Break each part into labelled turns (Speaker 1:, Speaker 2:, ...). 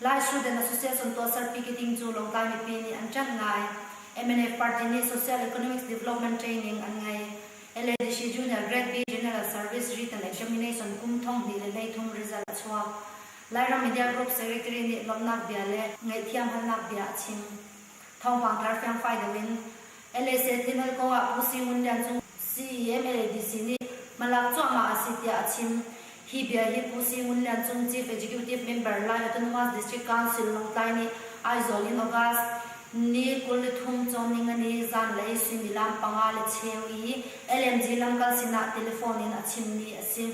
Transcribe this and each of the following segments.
Speaker 1: Lai Student Association tuahser piketing cu Lawngtlai mipi nih an ṭanh ngai. mnf party nih Social Economics Development Training an ngei. LADC Junior Grade B General Service Written Examination kum thong hnih le hleithum result a chuak. Lairam Media Group Secretary nih lawmhnak bia le ngaihthiamhalnak bia a chim. Thawngpang tlar fiangfai deuh in, LSA Thinhal kong ah Pu Si Ngun Lian Cung CEMADC nih hmalak cuahmah a si tiah a chim. Hi bia hi Pu Si Ngun Lian Cung Chief Executive Member Lai Autonomous District Council Lawngtlai nih Aizawl in August ni kul le thum cawmning a ni zanlei suimilam panga le cheu i LNG lamkal sinah telephone in a chimmi a si.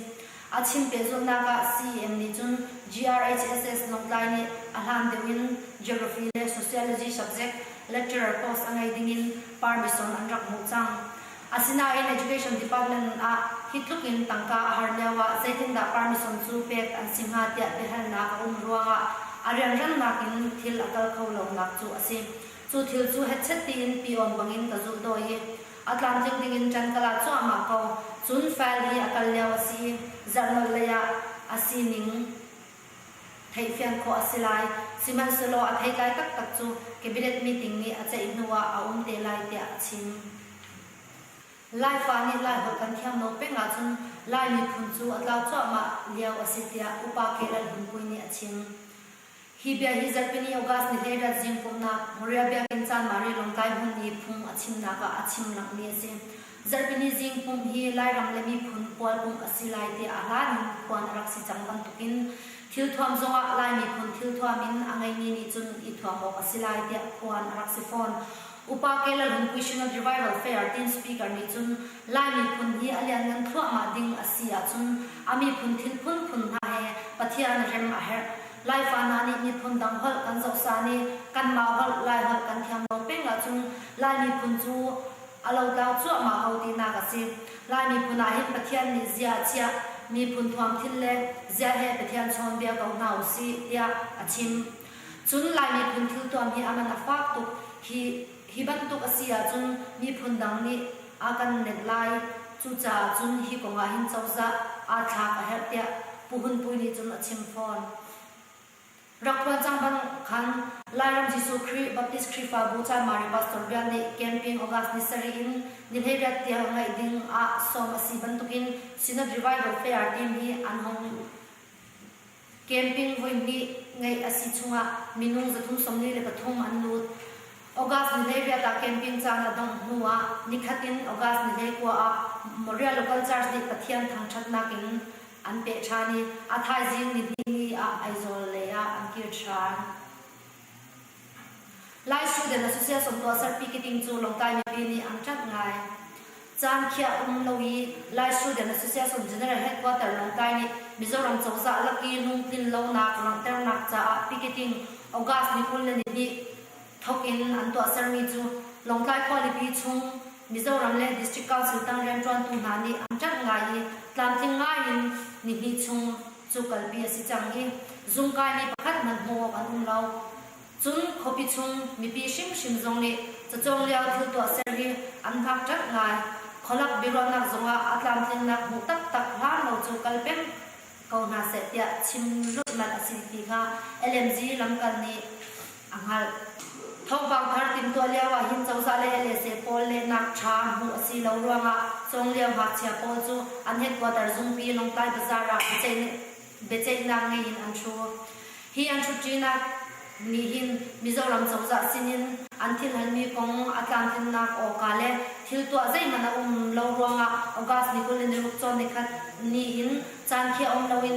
Speaker 1: A chim pehzulhnak ah CEM nih cun GRHSS Lawngtlai nih a hlan deuh in Geography le Sociology subject lecturer post a ngei ding in permission an rak hmuh cang. Asinain Education Department ah hi tluk in tangka a har lio ah zeitindah permission cu pek an si hnga tiah biahalnak a um ruang ah a rianralnak in thil a kal kho lonak cu a si. Cu thil cu hetchet piin piawm bangin ka zulh dawh i a tlamtling dingin ṭan ka la cuahmah ko. Cun file hi a kal lio a si i zarhnolh lei ah a sining theihfian khawh a si lai. Sihmanhsehlaw a theitlai taktak cu Cabinet meeting nih a ceih hnu ah a um te lai tiah a chim. Laifa nih Laiholh kan thiam lo peng ahcun Lai miphun cu a tlau cuahmah lio a si tiah Upa K. Lalhmun Pui nih a chim. Hi bia hi Zarhpini August ni hledat zingkawhnak Korea biakinn Chanmari Lawngtlai hmun i phung a chimnak ah a chim langmi a si. Zarhpini zing pumh hi Lairam le miphun khual pumh a si lai tiah a hlan in phuan a rak si cang bantukin thilthuam zongah Lai miphun thilthuam in a ngeimi nih cun i thuam awk a si lai tiah phuan a rak si fawn. Upa Ellen Missionary Revival Fair tin Speaker nih cun Lai miphun hi a lianngan thluahmah ding a si ahcun a miphun thin phunphun hna he Pathian rem a herh. Laifa hna nih miphun dang holh kan zohsan i kanmah holh Lai holh kan thiam lo peng ahcun Lai miphun cu a lotlau cuahmah ko tinak a si. Lai miphun ahhin Pathian nih zia a chiah, miphun thuamthin le zia he Pathian chawnbia ko hna usih tiah a chim. Cun Lai miphun thiltuam hi a man a fak tuk. Hi hi bantuk a si ahcun miphun dang nih a kan nenh lai. Cucaah cun hi kong ah hin cozah aa thlak a herh tiah Pu Hun Pui nih cun a chim fawn. Rak phuan cang bang khan Lairam Jesuh Khrih Baptist Khrihfabu Caimari pastor bia nih campaign August ni sarih in nihleiriat tiang ngeih ding ah sawm a si bantukin Synod Revival Fair timi an hong Camping voihnih ngeih a si chungah minung zathum sawmli le pathum an lut. August ni hlei vialte camping caan a dongh hnuah nikhat in August ni hlei kua ah Moria Local Church nih Pathian thangṭhatnak in an peh ṭhan i a thaizing nihnih ni ah Aizawl lei ah an kir ṭhan. Lai Student Association tuahserpi ka ding cu Lawngtlai mipi nih an ṭanh ngai. Caan khiah um lo i Lai Student Association General Headquarter Lawngtlai nih Mizoram cozah lak i lungtlin lonak langhternak caah piketing August ni kul le ni hnih thawk in an tuahsermi cu Lawngtlai khualipi chung Mizoram le District Council tang rianṭuantu hna nih an ṭanh ngai i tlamtling ngai in ni hnih chung cu kalpi a si cang i zungkai mi pakhat hmanh hmuh awk an um lo. Cun khuapi chung mipi hrimhrim zong nih cacawng lio thil tuahser hi an hngak ṭanh lai. Khualak biaruahnak zungah a tlamtlinnak hmuh taktak hlan lo cu kal peng ko hna seh tiah chim rulhmanh a si ti kha LMG lamkal nih a hngalh. Thawngpang thar timhtuah lioah hin cozah lei LSA pawl lehnak ṭha hmuh a si lo ruangah cawng lio ngakchia pawl cu an headquarter zungpi Lawngtlai Bazaar ah biaceihnak ngei in an ṭhu. Hi an ṭhutṭinak nih hin Mizoram cozah sinin an thilhlanmi kong a tlamtlinnak awka le thil tuah zeihmanh a um lo ruangah August ni kul le ni ruk cawn ni khat nih hin caan khi a um loin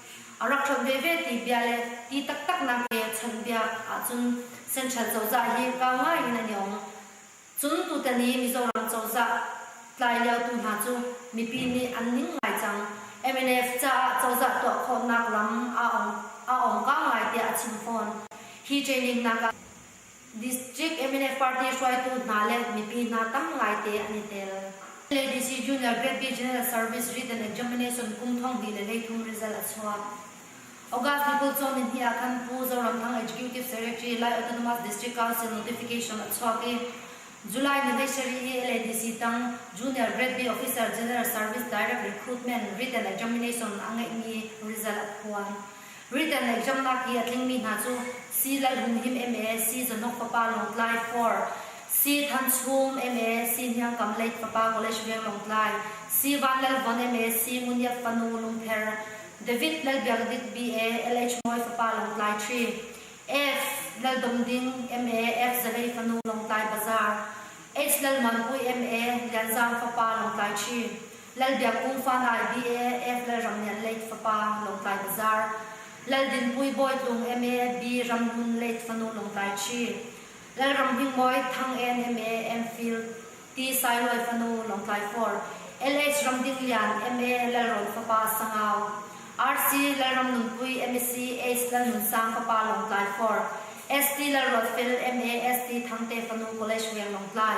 Speaker 1: A rak ṭhat veve ti bia le ti taktaknak pekchanh bia ahcun Central cozah hi vang ngai in an yong. Cun tutan i Mizoram cozah tlai lio tu hna cu mipi nih an ning ngai cang. MNF caah cozah tuah khawhnak lam a ong ka ngai tiah a chim fawn. Hi training nak ah. District MNF party hruaitu hna le mipi hna tam ngaite an i tel. LADC Junior Vety General Service Written Examination kum thong hnih le hleithum result a chuah. August ni kul cawm in hi ah khan Pu Zoramthang Executive Secretary Lai Autonomous District Council notification a chuak i July ni leishari hi LADC tang Junior Vety Officer General Service Direct Recruitment Written Examination a ngeihmi result a phuan. Britain lei ṭamnak i a tlingmi hna cu Si Lalh Hun Him MA, Si Zonok Papa Lawngtlai Four, Si Than Chum MA, Si Hniang Kam Leit Papa College Veng Lawngtlai, Si Van Lal Von MA, Si Ngun Iap Fanu Lungther, David Lal Biak Dit BA, LH Mawi Fapa Lawngtlai Ṭhi, Ef. Lal Dong Ding MA, Ef. Zavei Fanu Lawngtlai Bazaar, H. Lal Man Pui MA, Lian Zaang Fapa Lawngtlai Ṭhi, Lal Biakung fa Ngai BAF Lal Ram Lian Leit fapa Lawngtlai Bazar, Lal Dinpui Bawi Tlung MA B Ram Hmun Leit fanu Lawngtlai Ṭhi, Lal Ram Hming Mawi Thang En MA Anfield Ti Sai Lawi fanu Lawngtlai Four, LH Ram Ding Lian MA Lalrawn fapa Sangau, RC Lal Ram Nunpui MEC Ace Lal Nun Sang fapa Lawngtlai Four, ST Lal Ruat Fel MA ST Thang te fanu College Veng Lawngtlai,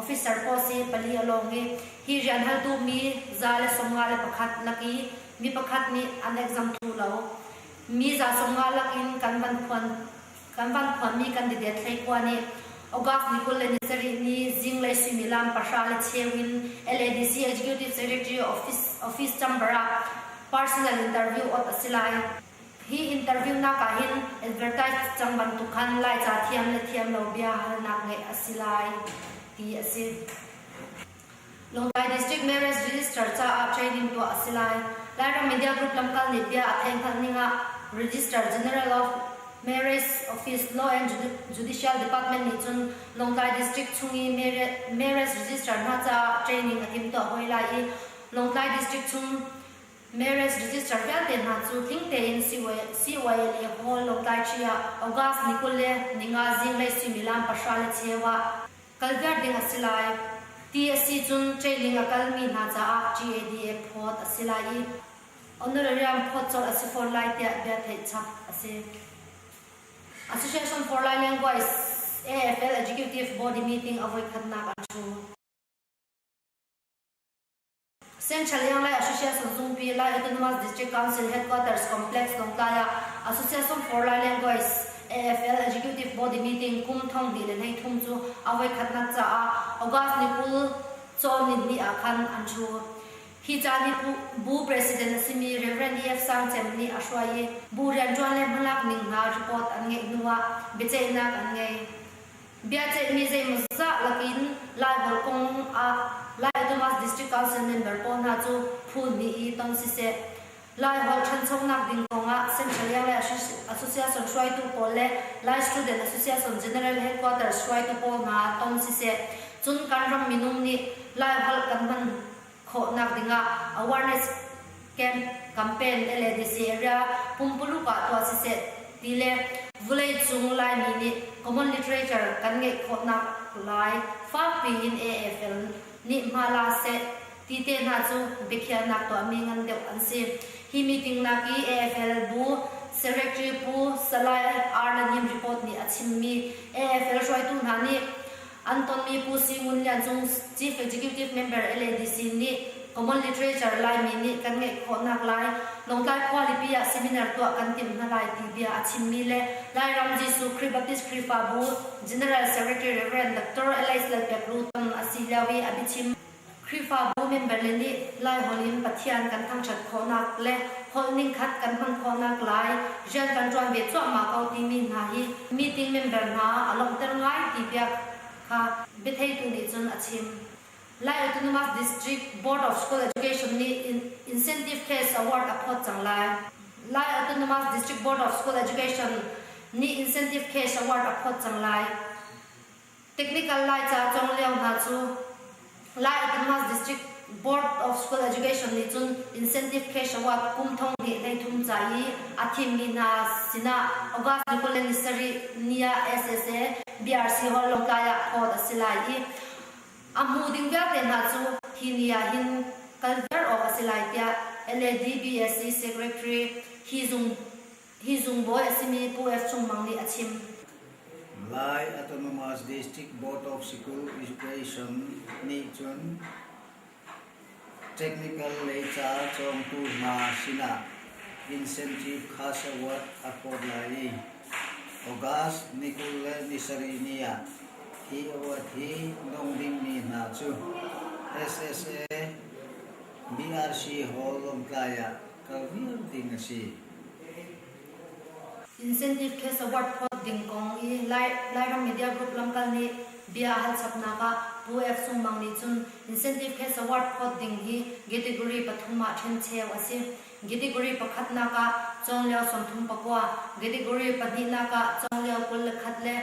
Speaker 1: Officer pawl si pali a lawng i hi rian hal duhmi za le sawmnga le pakhat lak i mi pakhat nih an exam thu lo. Mi za sawmnga lak in kan van phuan kan van phuanmi candidate thlei khua nih Ogak ni kul le ni sarih ni zinglei suimilam pahra le cheu in LADC Executive Secretary office office chamber ah personal interview awt a si lai. Hi interviewnak ah hin advertise cang bantuk khan Laica thiam le thiam lo bia halnak ngeih a si lai, ti a si. Lawngtlai District Marriage Register caah training tuah a si lai. Lairam Media Group lamkal nih bia a theinghal ning ah Register General of Marriage Office Law and Judicial Department nih cun Lawngtlai District chung i marriage register hna caah training a timtuah hoi lai i Lawngtlai District chung Marriage register vialte hna cu tling tein CYLA Hall Lawngtlaiṭhi ah August ni kul le ni nga zinglei suimilam pahra le cheu ah kal viar ding a si lai. Ti a si cun Ṭeiling a kalmi hna caah GADF phawt a si lai i honorarium phawt colh a si fawn lai tiah bia theih chap a si. Association for Lai Language AFL Executive Body meeting a voi khatnak a ṭhu. Central Yang Lai Association Tungpi Lai Autonomous District Council Headquarters Complex Tongkai ah Association for Lai Language AFL Executive Body Meeting kum thong di le nei thum cu a voi khatnak caah August ni kul cawn ni hnih ah khan an thu. Hi ca ni bu president a simi Reverend E.F. Sang Cem nih a hruai i bu rianṭuan le hmalak ning hna report an ngeih hnuah biaceihnak an ngei. Biaceihmi zeimawzah lakin Laiholh kong ah Lai-Adomas District Council member pawl hna cu phu hnih i tong siseh, Laiholh ṭhanchonak ding kong ah Central Yale Association hruaitu pawl le Lai Student Association General Headquarters hruaitu pawl hna tong siseh, cun kan ram minung nih Laiholh kan hman khawhnak dingah awareness camp campaign le le disi area pumpuluk ah tuah siseh ti le vulei cung Laimi nih common literature kan ngeih khawhnak lai fakpi in AFL nih hma la seh ti te hna cu biakhiahnak tuahmi ngan deuh an si. Hi meeting nak i AFL bu Secretary Pu Salai Arlan Him report nih a chimmi AFL hruaitu hna nih An tonmi Pu Si Ngun Lian Cung, Chief Executive Member LADC, nih Common Literature Laimi nih kan ngeih khawhnak lai, Lawngtlai khualipi ah seminar tuah kan timh hna lai ti bia a chimmi le Lairam Jesuh Khrih Baptist Khrihfabu General Secretary Rev. Doctor Alex Lalpek Rutan a si lio i a biachim Khrihfabu member le nih Laiholh in Pathian kan thangṭhat khawhnak le holh ningkhat kan hman khawhnak lai rian kan ṭuan ve cuahmah ko timi hna hi meeting member hna a lawmhter ngai ti bia kha biatheitu nih cun a chim. Lai Autonomous District Board of School Education nih Incentive Case Award a phawt cang lai. Lai Autonomous District Board of School Education nih Incentive Case Award a phawt cang lai. Technical Laica cong lio hna cu Lai Adhamas District Board of School Education nih cun incentive cash award kum thong hnih hleithum ca i a thimmi hna sinah August ni kul le ni sarih ni ah SSA BRC Hall Lawngtlai ah phawt a si lai i a hmu ding vialte hna cu hi ni ah hin kal viar awk a si lai tiah LADBSC Secretary Hi Zung Hi zungbawi a simi Pu S Cung Mang nih a chim. Malay Autonomous District Board of School Education nih cun technical lei ca cawngtu hna sinah incentive cash award a phawt lai i August ni kul le ni sarih ni ah hi award hi dong dingmi hna cu SSA BRC Hall Lawngtlai ah Incentive case award phawt ding kong i Lairam Media Group lamkal nih bia hal chapnak ah Pu Ek Sung Mang nih cun incentive case award phawt ding hi category pathum ah ṭhencheu a si. Category pakhatnak ah cawnglio sawmthum pakua, category pahnihnak ah cawnglio kul le khat le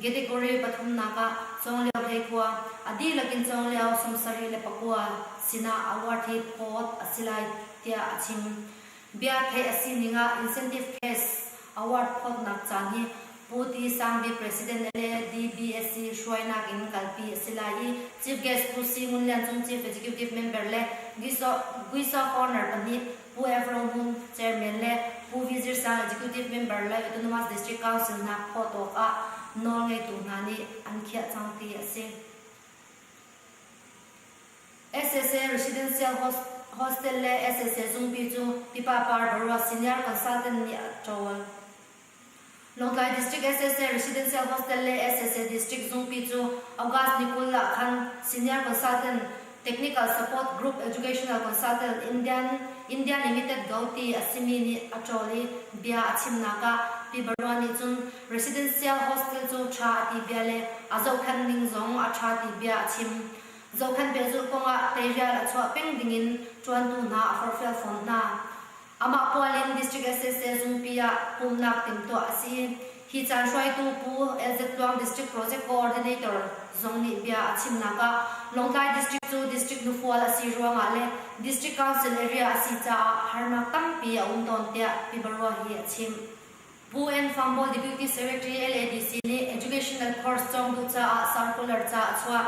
Speaker 1: Category pathumnak ah Cawnglio Hleikua, a dihlak in Cawnglio sawmsarih le pakua, sinah award hi phawt a si lai, tiah a chim. Bia theih a sining ah Incentive Pace Award phawtnak caan hi Pu Ti Sang Bik President le DBSC hruainak in kalpi a si lai i Chief Guest Pu Si Ngun Lian Cung Chief Executive Member le Guiso Corner pahnih Pu F. Ro Hmung, Chairman le Pu Vi Zir Sang, Executive Member le Autonomous District Council hna phawt awkah nawl ngeitu hna nih an khiah cang ti a si. SSA Residential Hostel le SSA Zungpi cu pipa par boruak senior consultant nih a ṭawl. Lawngtlai District SSA Residential Hostel le SSA District Zungpi cu August ni kul ah khan Senior Consultant Technical Support Group Educational Consultant Indian, Indian Limited Go ti a simi nih a ṭawl i bia a chimnak ah Pi Barua nih cun Residential Hostel cu ṭha a ti bia le a zohkhenh ning zong a ṭha ti bia a chim. Zohkhenh pehzulh kong ah teirial a chuah peng ding in ṭuantu hna a forhfial fawn hna. Amah Pualin District SSL Zungpi ah pumhnak timhtuah a si. Hi caan hruaitu Pu LZ Tluang District Project Coordinator zong nih bia a chimnak ah Lawngtlai District cu District nufual a si ruangah le District Council area a si caah harnak tampi a um tawn tiah Pibarua hi a chimh. Pu Ann Fangbawl Deputy Secretary LADC nih Educational Course cawng duh caah Circular ca a chuah.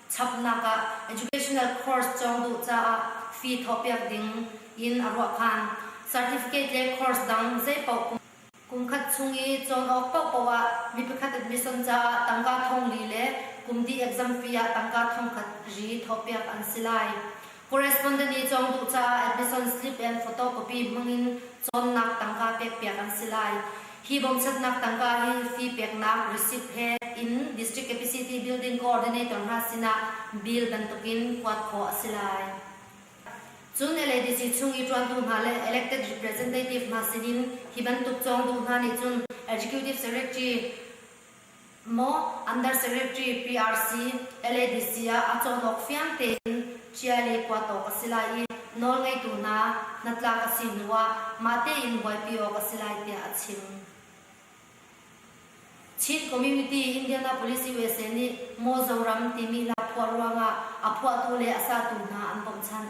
Speaker 1: chapnak ah educational course cawng duh caah fee thawhpiak ding in a ruah phan. Certificate le course dang zeipaoh kum khat chung i cawn awk paohpaoh ah mi pakhat admission caah tangka thongli le kumdi exam fee ah tangka thongkhat ri thawhpiak an si lai. Correspondent i cawng duh caah admission slip and photocopy hmang in cawnnak tangka pekpiak an si lai. Hi bawmchatnak tangka hi fee peknak receipt he in District Capacity Building Coordinator hna sinah bill bantukin kuat khawh a si lai. Cun LADC chung i ṭuantu hna le elected representative hna sinin hi bantuk cawng duh hna nih cun Executive Secretary Maw Under Secretary PRC, LADC ah a cawnawk fiang tein cia le kua tawk a si lai i nawlngeitu hna hnatlak a si hnu ah mah tein buaipi awk a si lai tiah a chim. Chin Community Indianapolis USA nih Mozoram timi lakphuah ruangah a phuahtu le a satu hna an bawmhchanh.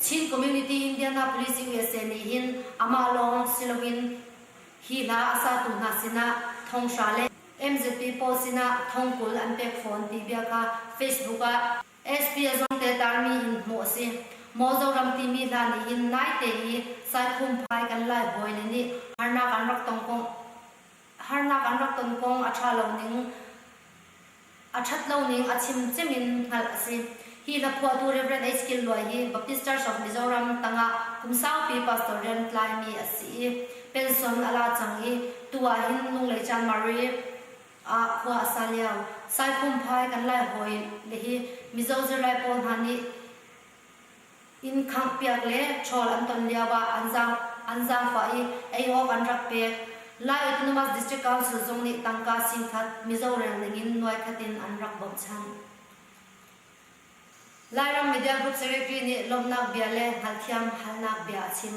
Speaker 1: Chin Community in Indianapolis i usa nih hin amah lawng si loin hi hla a satu hna sinah Thonghra le MZP pawl sinah thongkul an pek fawn ti bia kha Facebook ah SP a Zawngte tarmi in hmuh a si. Mozoram timi hla nih hin naite i Saikhumphai kan Lai bawi le nih harnak an rak tong kong harnak an rak ton kong a ṭha lo ning, a ṭhat lo ning a chim cem in hngalh a si. Hi hna phuahtu Rev. H. Killuai hi Baptist Church of Mizoram tangah kum saupi pastor rian tlaimi a si i pension a la cang i tu ah hin Lunglei Chanmari ah khua a sa lio. Saikhumphai kan Lai hawi le hi Mizo zirlai pawl hna nih inn khanghpiak le ṭhawl an ton lioah an zaangfah i ei awk an rak pek. Lai Autonomous District Council zong nih tangka singkhat Mizo rel ningin nuai khat in an rak bochan. Lairam media group secretary nih lawmhnak bia le hngalhthiam halnak bia a chim.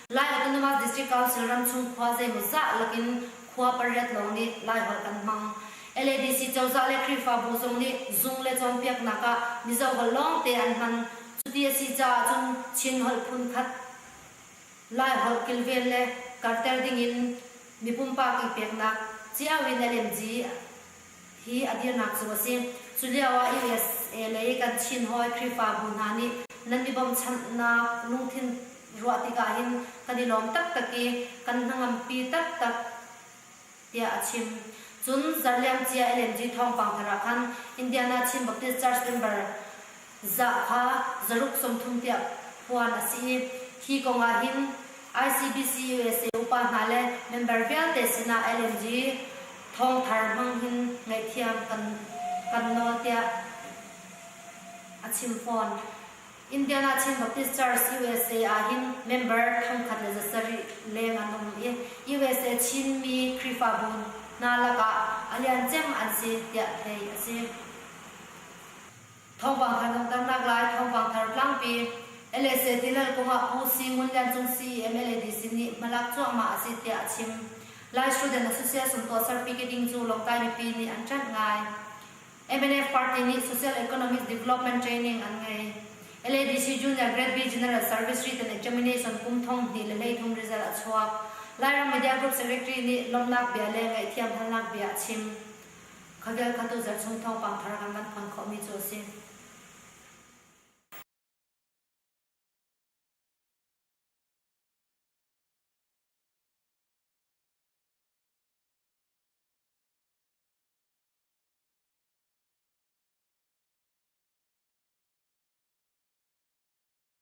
Speaker 1: Lai Autonomous District Council ramchung khua zeimawzah lakin khua pariat lawng nih Laiholh an hmang. LADC cozah le Khrihfabu zung nih zung le cawnpiaknak ah Mizoholh lawngte an hman. Cuti a si caah cun Chinholh phunkhat Laiholh kilven le karhter dingin mi pumpak i peknak cio in LMG hi a dirnak cu a si. Culioah USA lei kan Chin hawi Khrihfabu hna nih nan i bawmchanhnak lungthin ruah tikah hin kan i lawm taktak i kan hnangampi taktak, tiah a chim. Cun zarhliamcia LNG thawngpang thar ah khan Indiana Chin Baptist Church member zahha zaruk sawmthum tiang puan a si i hi kong ah hin ICBC usa upa hna le member vialte sinah LNG thawngthar hmang hin ngaihthiam kan kan nawl tiah a chim fawn. Indiana Chin Baptist Church USA ah hin member thongkhat le zasarih leng an um i USA Chinmi Khrihfabu hna lakah a lian cem an si tiah theih a si. Thawngpang kan hung tarnak lai Thawngpang thar tlangpi LSA tilal kongah Pu Si Ngun Lian Cung si mla DC nih hmalak cuahmah a si tiah a chim. Lai Student Association tuahser Pi Ke Ding cu Lawngtlai mipi nih an ṭanh ngai. MNF party nih Social Economic Development Training an ngei. LADC Junior Grade B General Service Written Examination kum thong hnih le hlei thum result a chuak. Lairam Media Group Secretary nih lawmhnak bia le ngaihthiam halnak bia a chim. Kha vial kha tuzarh chung thawngpang thar kan kan phan khawhmi cu a si.